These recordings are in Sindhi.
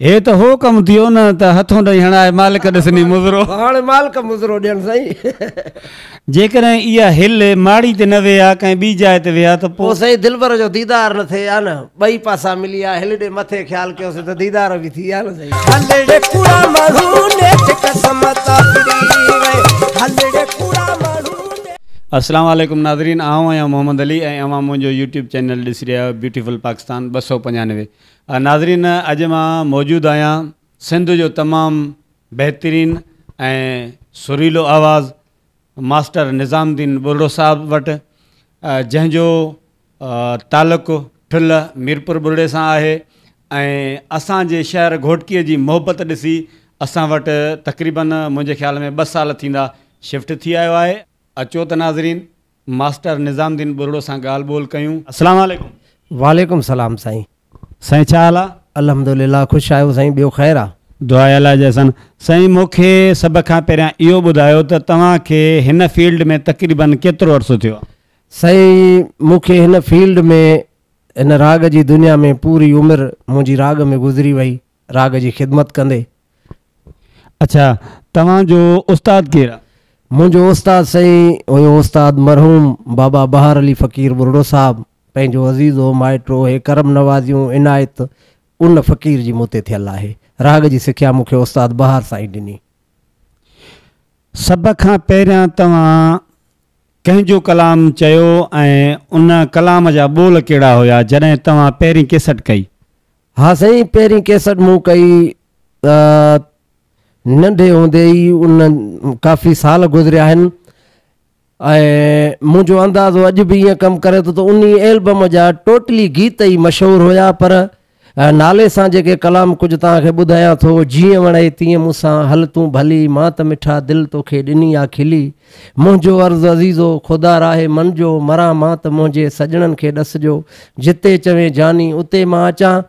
هي ته هو ڪم ٿيو نه ته هٿون ڏئي هڻائي مالڪ ڏسني مضرو. هاڻي مالڪ مضرو ڏين سائين. جيڪڏهن اها هل ماڙي تي نه ويها ڪنهن ٻي جاء تي ويها ته پوء. پوء سائين دلبر جو ديدار نه ٿئي ها نه ٻئي پاسا ملي ها هل ڏي مٿي خيال ڪيوسين ته ديدار به ٿي ها نه سائين. هلڙي ڪوڙا ماڻهو نيٺ قسمت آفري وئي هلڙي ڪوڙا ماڻهو نيٺ. اسلام عليڪم ناظرين آئون آهيان محمد علي ۽ اوهان منهنجو يوٽيوب چينل ڏسي رهيا آهيو بيوٽيفل پاڪستان ٻه سؤ پنجانوي ناظرين اڄ مان موجود آهيان سنڌ جو تمام بهترين ۽ سريلو آواز ماسٽر نظام الدين ٻرڙو صاحب وٽ جنهن جو تعلق ٺل ميرپور ٻرڙي سان آهي ۽ اسان جي شهر گهوٽڪي جي محبت ڏسي اسان وٽ تقريبن منهنجي خيال ۾ ٻه سال ٿيندا شفٽ ٿي آيو آهي اچو ته ناظرين ماسٽر نظام الدين ٻرڙو سان ڳالهه ٻولهه ڪيون. السلام عليڪم. وعليڪم السلام سائين. سائين ڇا حال آ؟ الحمد لله خوش آهيون سائين ٻيو خير آ. دعا الاهي جي احسان. سائين مون کي سڀ کان پهريان اهو ٻڌايو ته توهان کي هن فيلڊ ۾ تقريباً ڪيترو عرصو ٿيو آ؟ سائين مون کي هن فيلڊ ۾ هن راڳ جي دنيا ۾ پوري عمر منهنجي راڳ ۾ گذري وئي راڳ جي خدمت ڪندي. اڇا توهان جو استاد ڪير آ؟ منهنجو استاد سائين هيو استاد مرحوم بابا بهار علي فقير ٻرڙو صاحب پنهنجو عزيزو مائٽرو هي ڪرم نوازيون عنايت ان فقير جي مون تي ٿيل آهي راڳ جي سکيا مون کي استاد بهار سائين ڏني. سڀ کان پهريان توهان ڪنهن جو ڪلام چيو ۽ ان ڪلام جا ٻول ڪهڙا هيا جڏهن توهان پهرين ڪيسٽ ڪئي ها سائين پهرين ڪيسٽ مون ڪئي ته ننڍي هوندي ئي ان ڪافي سال گذريا آهن ۽ منهنجو اندازو اڄ به ائين ڪم ڪري ٿو ته ان البم جا ٽوٽلي گيت ئي مشهور هيا پر نالي سان جيڪي ڪلام ڪجهه توهان کي ٻڌايان ٿو جيئن وڻئي تيئن مون سان هل تون ڀلي مان ته مٺا دل توکي ڏني آ کلي منهنجو عرض عزيزو خدا راهي من جو مران مان ته منهنجي سڄڻن کي ڏسجو جتي چوين جاني اتي مان اچان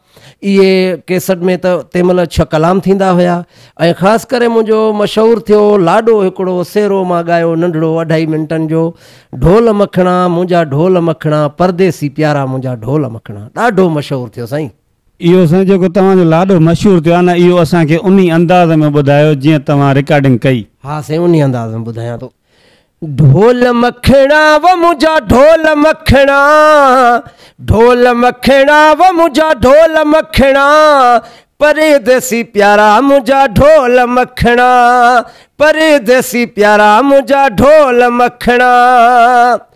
اهي ڪيسٽ ۾ ته تنهن مهل ڇهه ڪلام ٿيندا هيا ۽ خاص ڪري منهنجو مشهور ٿيو لاڏو هڪڙو سيرو مان ڳايو ننڍڙو اڍائي منٽن جو ڍول مکڻا منهنجا ڍول مکڻا پرديسي پيارا منهنجا ڍول مکڻا ڏاڍو مشهور ٿيو سائين اهو سائين جيڪو توهان جو لاڏو مشهور ٿيو آهي نه اهو اسان کي انهي انداز ۾ ٻڌايو جيئن توهان رڪارڊنگ ڪئي. ها سائين انهي انداز ۾ ٻڌايان ٿو. ڍول مکڻا و منهنجا ڍول مکڻا ڍول مکڻا و منهنجا ڍول مکڻا پرديسي پيارا منهنجا ڍول مکڻا پرديسي پيارا منهنجا ڍول مکڻا.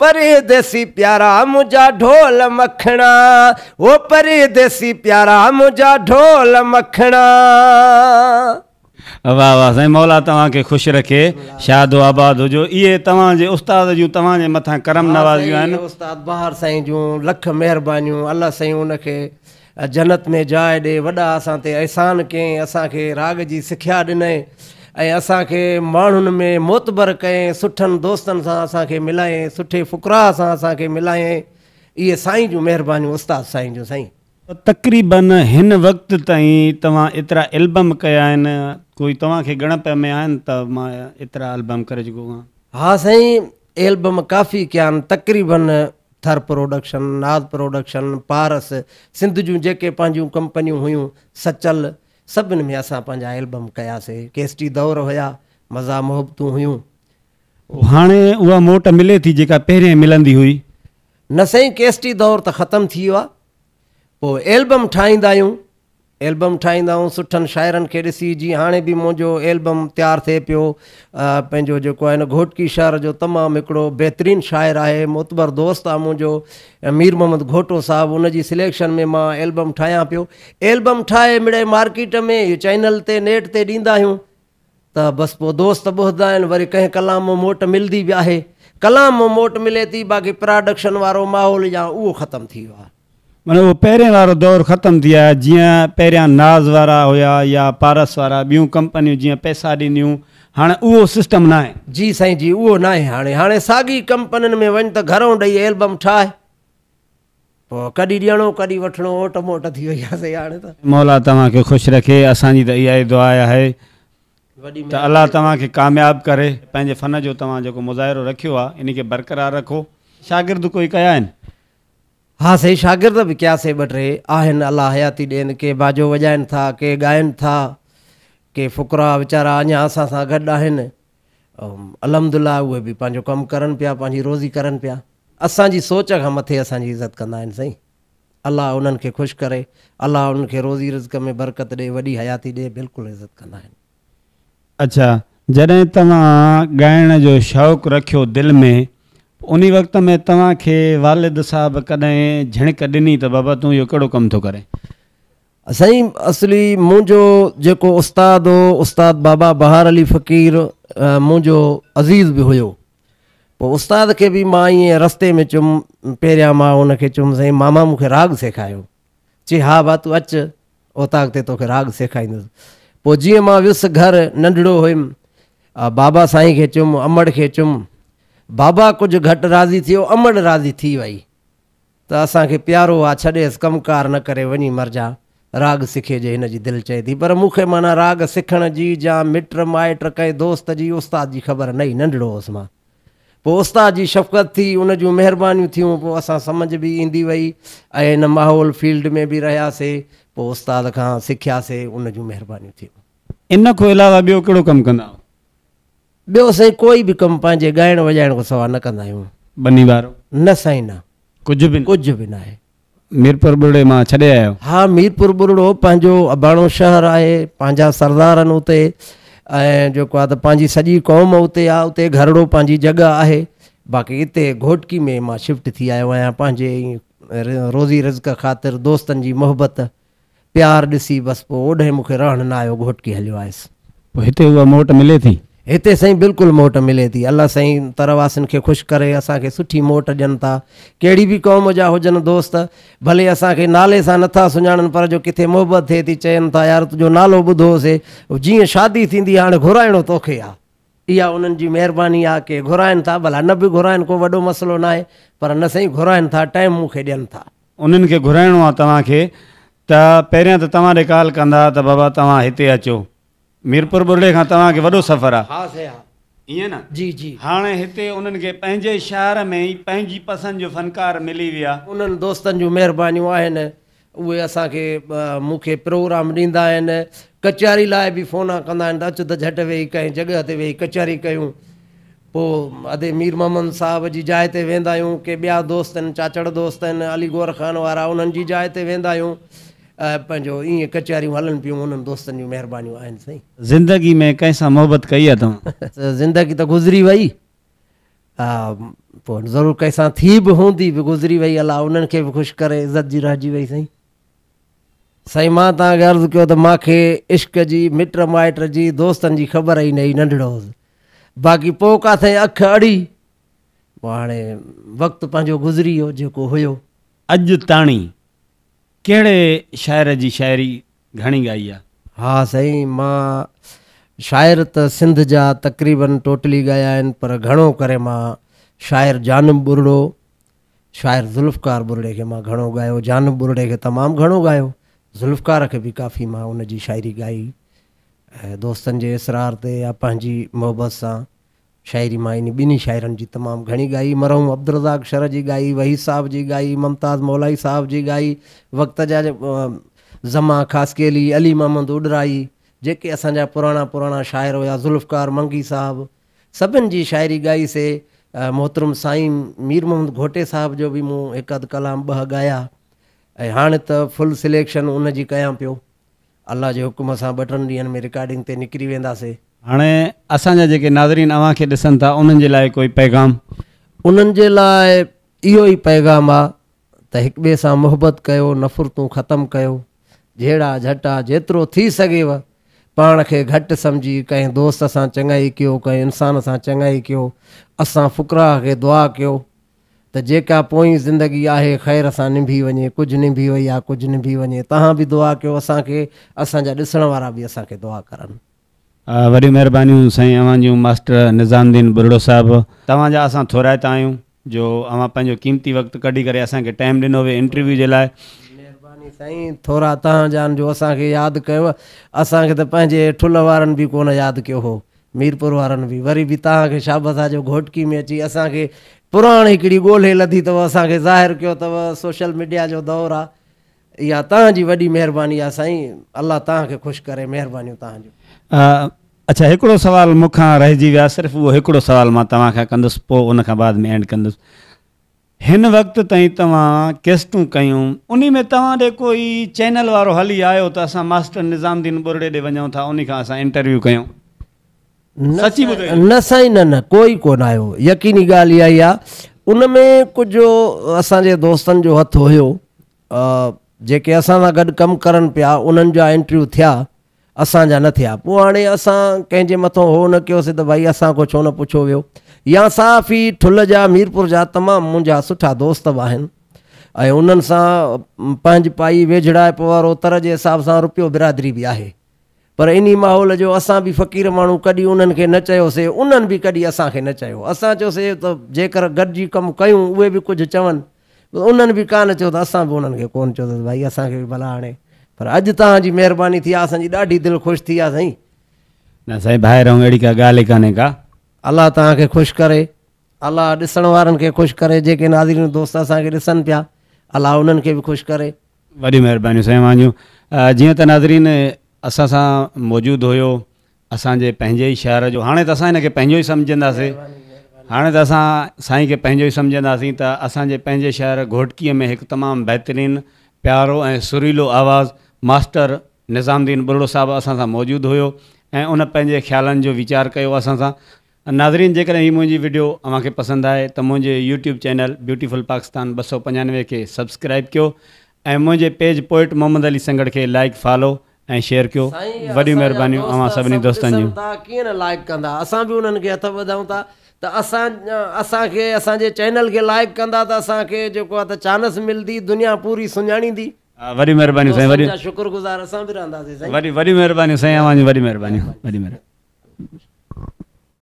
پريديسي پيارا منهنجا ڍول مکڻا هو پريديسي پيارا منهنجا ڍول مکڻا. واھ واھ سائين مولا توهان کي خوش رکي شاد و آباد هجو اهي توهان جي استاد جون توهان جي مٿان ڪرم نوازيون آهن. واھ سائين استاد بهار سائين جون لک مهربانيون الله سائين ان کي جنت ۾ جاء ڏي وڏا اسان تي احسان ڪيئين اسان کي راڳ جي سکيا ڏنئين ۽ اسان کي ماڻهن ۾ معتبر ڪيئين سٺن دوستن سان اسان کي ملايئين سٺي فقراء سان اسان کي ملايئين اهي سائين جون مهربانيون استاد سائين جون سائين. تقريباً هن وقت تائين توهان ايترا البم ڪيا آهن ڪوئي توهان کي ڳڻپ ۾ آهن ته مان ايترا البم ڪري چڪو آهيان. ها سائين ايلبم ڪافي ڪيان تقريباً ٿر پروڊڪشن، ناز پروڊڪشن، پارس، سنڌ جون جيڪي پنهنجون ڪمپنيون هيون، سچل، سڀن ۾ اسان پنهنجا ايلبم ڪياسي. ڪيسٽي دور هيا، مزا محبتون هيون. هاڻي اها موٽ ملي ٿي جيڪا پهرين ملندي هئي؟ نه سائين ڪيسٽي دور ته ختم ٿي ويو آهي. پوء ايلبم ٺاهيندا آهيون. ايلبم ٺاهيندا آهيون سٺن شاعرن کي ڏسي جيئن هاڻي به منهنجو ايلبم تيار ٿئي پيو. پنهنجو جيڪو آهي نه گهوٽڪي شهر جو تمام هڪڙو بهترين شاعر آهي معتبر دوست آهي منهنجو مير محمد گهوٽو صاحب ان جي سليڪشن ۾ مان ايلبم ٺاهيان پيو. ايلبم ٺاهي مڙئي مارڪيٽ ۾ چئنل تي نيٽ تي ڏيندا آهيون. ته بس پوء دوست به هدا آهن، وري ڪنهن ڪلام مان موٽ ملدي به آهي. ڪلام مان موٽ ملي ٿي، باقي پراڊڪشن وارو ماحول يا اهو ختم ٿي ويو آهي. معني اهو پهرين وارو دور ختم ٿي ويو آهي، جيئن پهريان ناز وارا هيا يا پارس وارا، ٻيون ڪمپنيون جيئن پئسا ڏينديون، هاڻي اهو سسٽم ناهي. جي سائين جي اهو ناهي هاڻي. هاڻي ساڳي ڪمپنين ۾ وڃ ته گهرئون ڏئي البم ٺاهه. ڪڏھن ڏيڻو ڪڏھن وٺڻو اوٽ موٽ ٿي وئي آھي سائين ھاڻي ته. مولا توهان کي خوش رکي اسان جي ته اها ئي دعا آهي ته الله توهان کي ڪامياب ڪري پنهنجي فن جو توهان جيڪو مظاهرو رکيو آ ان کي برقرار رکو شاگرد ڪوئي ڪيا آهن؟ ها سائين شاگرد به ڪيا سي ٻه ٽي آهن الله حياتي ڏين ڪي باجو وڄائن ٿا ڪي ڳائن ٿا ڪي فقراء ويچارا اڃا اسان سان گڏ آهن. الحمدالله اهي به پنهنجو ڪم ڪرن پيا پنهنجي روزي ڪرن پيا اسان جي سوچ کان مٿي اسان جي عزت ڪندا آهن سائين الله انهن کي خوش ڪري الله انهن کي روزي رزق ۾ برڪت ڏي وڏي حياتي ڏي بلڪل عزت ڪندا آهن. اڇا جڏهن توهان ڳائڻ جو شوق رکيو دل ۾ انهي وقت ۾ توهان کي والد صاحب ڪڏهن جهڻڪ ڏني ته بابا تون اهو ڪهڙو ڪم ٿو ڪرين سائين اصلي منهنجو جيڪو استاد هو استاد بابا بهار علي فقير منهنجو عزيز به هيو پوء استاد کي به مان ائين رستي ۾ چيم پهريان مان ان کي چيم سائين ماما مون کي راڳ سيکايو چي ها با تون اچ اوطاق تي توکي راڳ سيکائيندس پوء جيئن مان ويس گهر ننڍڙو هيم بابا سائين کي چيم امڙ کي چيم بابا ڪجهه گهٽ راضي ٿيو امڙ راضي ٿي وئي ته اسان کي پيارو آ ڇڏيس ڪم ڪار نه ڪري وڃي مرجاء راڳ سکي جي هن جي دل چئي ٿي پر مون کي معنيٰ راڳ سکڻ جي جا مٽ مائٽ ڪنهن دوست جي استاد جي خبر نه ئي ننڍڙو هوس مان پوء استاد جي شفقت ٿي ان جون مهربانيون ٿيون پوء اسان سمجهه به ايندي وئي ۽ ان ماحول فيلڊ ۾ به رهياسي پوء استاد کان سکياسي ان جون مهربانيون ٿيون. ان کان علاوه ٻيو ڪهڙو ڪم ڪندا هئو؟ ٻيو سائين ڪوئي به ڪم پنهنجي ڳائڻ وڄائڻ کان سوا نه ڪندا آهيون. ٻني وارو؟ نه سائين نه. ڪجهه به نه؟ ڪجهه به ناهي. ميرپور ٻرڙي مان ڇڏي آيا آهيو؟ ها ميرپور ٻرڙو پنهنجو اباڻو شهر آهي، پنهنجا سردار آهن اتي ۽ جيڪو آهي ته پنهنجي سڄي قوم اتي آهي، اتي گهرڙو پنهنجي جڳهه آهي، باقي اتي گهوٽڪي ۾ مان شفٽ ٿي آيو آهيان پنهنجي روزي رزق خاطر دوستن جي محبت پيار ڏسي بس پوء اوڏهين مون کي رهڻ نه آيو گهوٽڪي هليو آيس. پوء هتي اها موٽ ملي ٿي؟ هتي سائين بلڪل موٽ ملي ٿي. الله سائين تر واسين کي خوش ڪري اسان کي سٺي موٽ ڏين ٿا. ڪهڙي به قوم جا هجن دوست ڀلي اسان کي نالي سان نه ٿا سڃاڻن پر جو ڪٿي محبت ٿئي ٿي چين ٿا يار تنهنجو نالو ٻڌو هوسي جيئن شادي ٿيندي هاڻي گهرائڻو توکي آ. اها انهن جي مهرباني آ ڪي گهرائن ٿا ڀلا نه به گهرائن ڪو وڏو مسئلو ناهي پر نه سائين گهرائن ٿا ٽائيم مون کي ڏين ٿا. انهن کي گهرائڻو آ توهان کي ته پهريان ته توهان ڏي ڪال ڪندا ته بابا توهان هتي اچو ميرپور ٻرڙي کان توهان کي وڏو سفر آ ها سائين ها ائين نه جي جي. هاڻي هتي انهن کي پنهنجي شهر ۾ ئي پنهنجي پسند جو فنڪار ملي ويا. انهن دوستن جون مهربانيون آهن. اهي اسان کي مون کي پروگرام ڏيندا آهن، ڪچهري لاء به فون ڪندا آهن ته اچ ته جهٽ ويهي ڪنهن جڳهه تي ويهي ڪچهري ڪيون. پوء ادي مير محمد صاحب جي جاء تي ويندا آهيون، ڪي ٻيا دوست آهن چاچڙ دوست آهن علي گوهر خان وارا انهن جي جاء تي ويندا آهيون. پنهنجو ايئن ڪچهريون هلن پيون انهن دوستن جون مهربانيون آهن سائين. زندگي ۾ ڪنهن سان محبت ڪئي اٿم؟ زندگي ته گذري وئي پوء ضرور ڪنهن سان ٿي به هوندي به گذري وئي الله انهن کي به خوش ڪري عزت جي رهجي وئي سائين سائين مان تان کي عرض کيو ته مان کي عشق جي مٽ مائٽ جي دوستن جي خبر ئي نه هئي ننڍڙو هوس باقي پوء ڪاٿي اک اڙي پوء هاڻي وقت پنهنجو گذري ويو جيڪو هيو اڄ تاڻي ڪهڙي شاعر جي شاعري گهڻي ڳائي آ. ها سائين مان شاعر ته سنڌ جا تقريباً ٽوٽلي ڳايا آهن پر گهڻو ڪري مان شاعر جانب ٻرڙو شاعر ذوالفقار ٻرڙي کي مان گهڻو ڳايو جانب ٻرڙي کي تمام گهڻو ڳايو ذوالفقار کي به ڪافي مان ان جي شاعري ڳائي دوستن جي اصرار تي يا پنهنجي محبت سان شاعري مان انهي ٻنهي شاعرن جي تمام گهڻي ڳائي، مرحوم عبدالرزاق شرح جي ڳائي، وحيد صاحب جي ڳائي، ممتاز مولائي صاحب جي ڳائي، وقت جا زما خاصخيلي، علي محمد اوڏراهي، جيڪي اسان جا پراڻا پراڻا شاعر هيا، ذوالفقار منگي صاحب، سڀن جي شاعري ڳائي سي. محترم سائين مير محمد گهوٽي صاحب جو به مون هڪ اڌ ڪلام ٻه ڳايا ۽ هاڻ ته فل سليڪشن ان جي ڪيان پيو. الله جي حڪم سان ٻه ٽن ڏينهن ۾ رڪارڊنگ تي نڪري وينداسي. هاڻي اسان جا جيڪي ناظرين اوهان کي ڏسن ٿا انهن جي لاء ڪوئي پيغام؟ انهن جي لاء اهو ئي پيغام آ ته هڪ ٻئي سان محبت ڪيو نفرتون ختم ڪيو جهيڙا جهٽا جيترو ٿي سگهيو پاڻ کي گهٽ سمجهي ڪنهن دوست سان چڱائي ڪيو ڪنهن انسان سان چڱائي ڪيو اسان فقراء کي دعا ڪيو ته جيڪا پوئين زندگي آهي خير سان نڀي وڃي ڪجهه نڀي وئي آ ڪجهه نڀي وڃي تهان به دعا ڪيو اسان کي اسان جا ڏسڻ وارا به اسان کي دعا ڪرن. وڏيون مهربانيون سائين اوهان جون ماسٽر نظام الدين ٻرڙو صاحب. توهان جا اسان ٿورائتا آهيون جو اوهان پنهنجو قيمتي وقت ڪڍي ڪري اسان کي ٽائيم ڏنو ويو انٽرويو جي لاء. مهرباني سائين ٿورا تهان جان جو اسان کي ياد ڪيو اسان کي ته پنهنجي ٺل وارن به ڪونه ياد ڪيو هو ميرپور وارن به وري به توهان کي شابس آ جو گهوٽڪي ۾ اچي اسان کي پراڻ هڪڙي ڳولهي لڌي اٿو اسان کي ظاهر ڪيو اٿو سوشل ميڊيا جو دور آ اها توهان جي وڏي مهرباني آ سائين الله توهان کي خوش ڪري مهربانيون توهان جون. اڇا هڪڙو سوال مون کان رهجي ويو آ صرف اهو هڪڙو سوال مان توهان کان ڪندس پو ان کان بعد ۾ اينڊ ڪندس هن وقت تائين توهان ڪيسٽون ڪيون انهي ۾ توهان ڏي ڪوئي چينل وارو هلي آيو ته اسان ماسٽر نظام الدين ٻرڙي ڏي وڃون ٿا انهي کان اسان انٽرويو ڪيون سچي ٻڌو. نه سائين نه نه ڪوئي ڪونه آيو يقيني ڳالهه اها ئي آ ان ۾ ڪجهه اسان جي دوستن جو هٿ هيو جيڪي اسان سان گڏ ڪم ڪرن پيا انهن جا انٽرويو ٿيا. اسان جا نه ٿيا، پوء هاڻي اسان ڪنهن جي مٿو هو نه ڪيوسين ته ڀائي اسان کان ڇو نه پڇيو ويو يا صحافي ٺل جا ميرپور جا تمام منهنجا سٺا دوست به آهن ۽ انهن سان پنهنج پائي ويجهڙائپ وارو تر جي حساب سان روپيو برادري به آهي پر انهي ماحول جو اسان به فقير ماڻهو ڪڏهن انهن کي نه چيوسي انهن به ڪڏهن اسان کي نه چيو اسان چيوسي ته جيڪر گڏجي ڪم ڪيون اهي به ڪجهه چون ۽ انهن به ڪانه چيو ته اسان به انهن کي ڪونه چيو اٿس ڀائي اسان کي به ڀلا هڻي پر اڄ توهان جي مهرباني ٿي آهي اسان جي ڏاڍي دل خوش ٿي آهي سائين. نه سائين ڀائي رحم اهڙي ڪا ڳالهه ئي ڪانهي ڪا. الله توهان کي خوش ڪري الله ڏسڻ وارن کي خوش ڪري جيڪي ناظرين دوست اسان کي ڏسن پيا الله انهن کي به خوش ڪري. وڏيون مهربانيون سائين اوهان جون جيئن ته ناظرين اسان سان موجود هيو. اسان جي پنهنجي ئي شهر جو هاڻي ته اسان هن کي پنهنجو ئي سمجهنداسين هاڻي ته اسان سائين کي پنهنجو ئي سمجهنداسين ته اسان جي پنهنجي شهر گهوٽڪيء ۾ هڪ تمام بهترين پيارو ۽ سريلو آواز ماسٽر نظام الدين ٻرڙو صاحب اسان سان موجود هيو ۽ ان پنهنجي خيالن جو ويچار ڪيو اسان سان ناظرين جيڪڏهن هي منهنجي وڊيو اوهان کي پسند آهي ته منهنجي يوٽيوب چينل بيوٽيفل پاڪستان ٻه سؤ پنجانوي کي سبسڪرائيب ڪيو ۽ منهنجي پيج پوئٽ محمد علي سنگهڙ کي لائيڪ فالو ۽ شيئر ڪيو سائين وڏيون اسان جا مهربانيون دوست اوهان سڀني سڀ دوستن ڏسن جون. ٿا ڪيئن نه لائيڪ ڪندا اسان به انهن کي هٿ وڌائون ٿا ته اسان اسان کي اسان جي چينل کي لائيڪ ڪندا ته اسان کي جيڪو آهي ته چانس ملدي دنيا پوري سڃاڻيندي وڏيون مهربانيون سائين دوستن وڏيون جا شڪر گذار اسان به رهنداسين سائين. وڏيون وڏيون مهربانيون سائين اوهان جون وڏيون مهربانيون وڏيون مهربانيون.